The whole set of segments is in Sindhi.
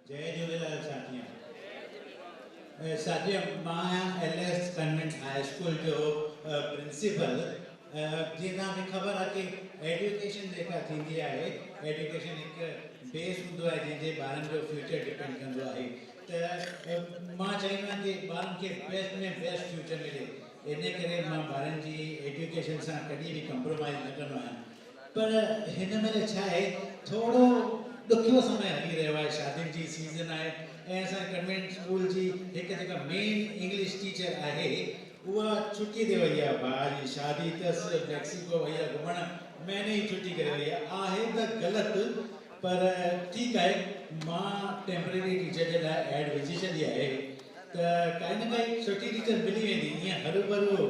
جئي جهوليلال ساٿيان ساٿيان مان آهيان L S convent high school جو پرنسپل جي تان کي خبر آهي ته ايڊيوڪيشن جيڪا ٿيندي آهي ايڊيوڪيشن هڪ بيس هوندو آهي جنهن جي ٻارن جو فيوچر ڊپينڊ ڪندو آهي ته مان چاهيندو آهيان ته ٻارن کي بيسٽ ۾ بيسٽ فيوچر ملي انهي ڪري مان ٻارن جي ايڊيوڪيشن سان ڪڏهن به ڪمپرومائيز نه ڪندو آهيان پر هن مهل ڇا آهي ٿورو ڏکيو سمي هلي رهيو آهي شادين جي سيزن آهي ۽ اسان جي ڪنوينٽ اسڪول جي هڪ جيڪا مين انگلش ٽيچر آهي اها ڇٽي تي وئي آهي ڀاء جي شادي تس ميڪسيڪو وئي آهي گهمڻ مهيني جي ڇٽي ڪري وئي آهي آهي ته غلط پر ٺيڪ آهي مان ٽيمپرري ٽيچر جي لاء ايڊ وجهي ڇڏي آهي ته ڪائي نه ڪائي سٺي ٽيچر ملي ويندي ايئن هرو ڀرو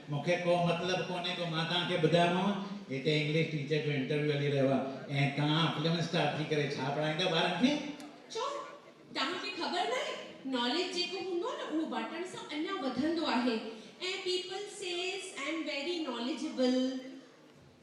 مون کي ڪو مطلب ڪونهي ڪو مان توهان کي ٻڌايومانو هتي انگلش ٽيچر جو انٽرويو هلي رهيو آهي ۽ توهان فلم اسٽار ٿي ڪري ڇا پڙهائيندا ٻارن کي. ڇو توهان کي خبر ناهي ناليج جيڪو هوندو آهي نه اهو ٻاٽڻ سان اڃا وڌندو آهي ۽ people says I am very knowledgeable.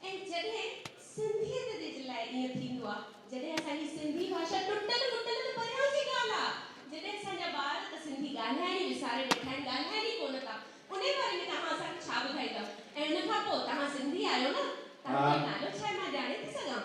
۽ جڏهن سنڌيت جي جي لاء ائين ٿيندو آ جڏهن اسان جي سنڌي ڀاشا ٽٽل مٽل ته پريان جي ڳالهه آ جڏهن اسان جا ٻار ته سنڌي ڳالهائڻ ئي وساري ويٺا آهن ڳالهائين ئي ڪونه ٿا انهي باري ۾ توهان اسان کي ڇا ٻڌائيندؤ ۽ ان کان پوء توهان سنڌي آهيو نه توهان جو نالو ڇا آهي مان ڄاڻي ٿي سگهان.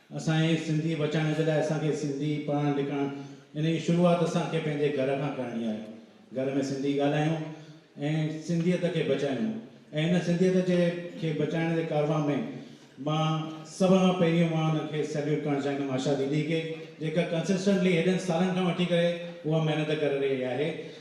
اسان جي سنڌي بچائڻ جي لاء اسان کي سنڌي پڙهڻ لکڻ ان جي شروعات اسان کي پنهنجي گهر کان ڪرڻي آهي گهر ۾ سنڌي ڳالهايون ۽ سنڌيت کي بچايون ۽ ان سنڌيت جي کي بچائڻ جي ڪارواء ۾ مان سڀ کان پهريون مان ان کي سيليوٽ ڪرڻ چاهيندم آشا ديدي کي جيڪا ڪنسسٽنٽلي هيڏن سالن کان وٺي ڪري اها محنت ڪري رهي آهي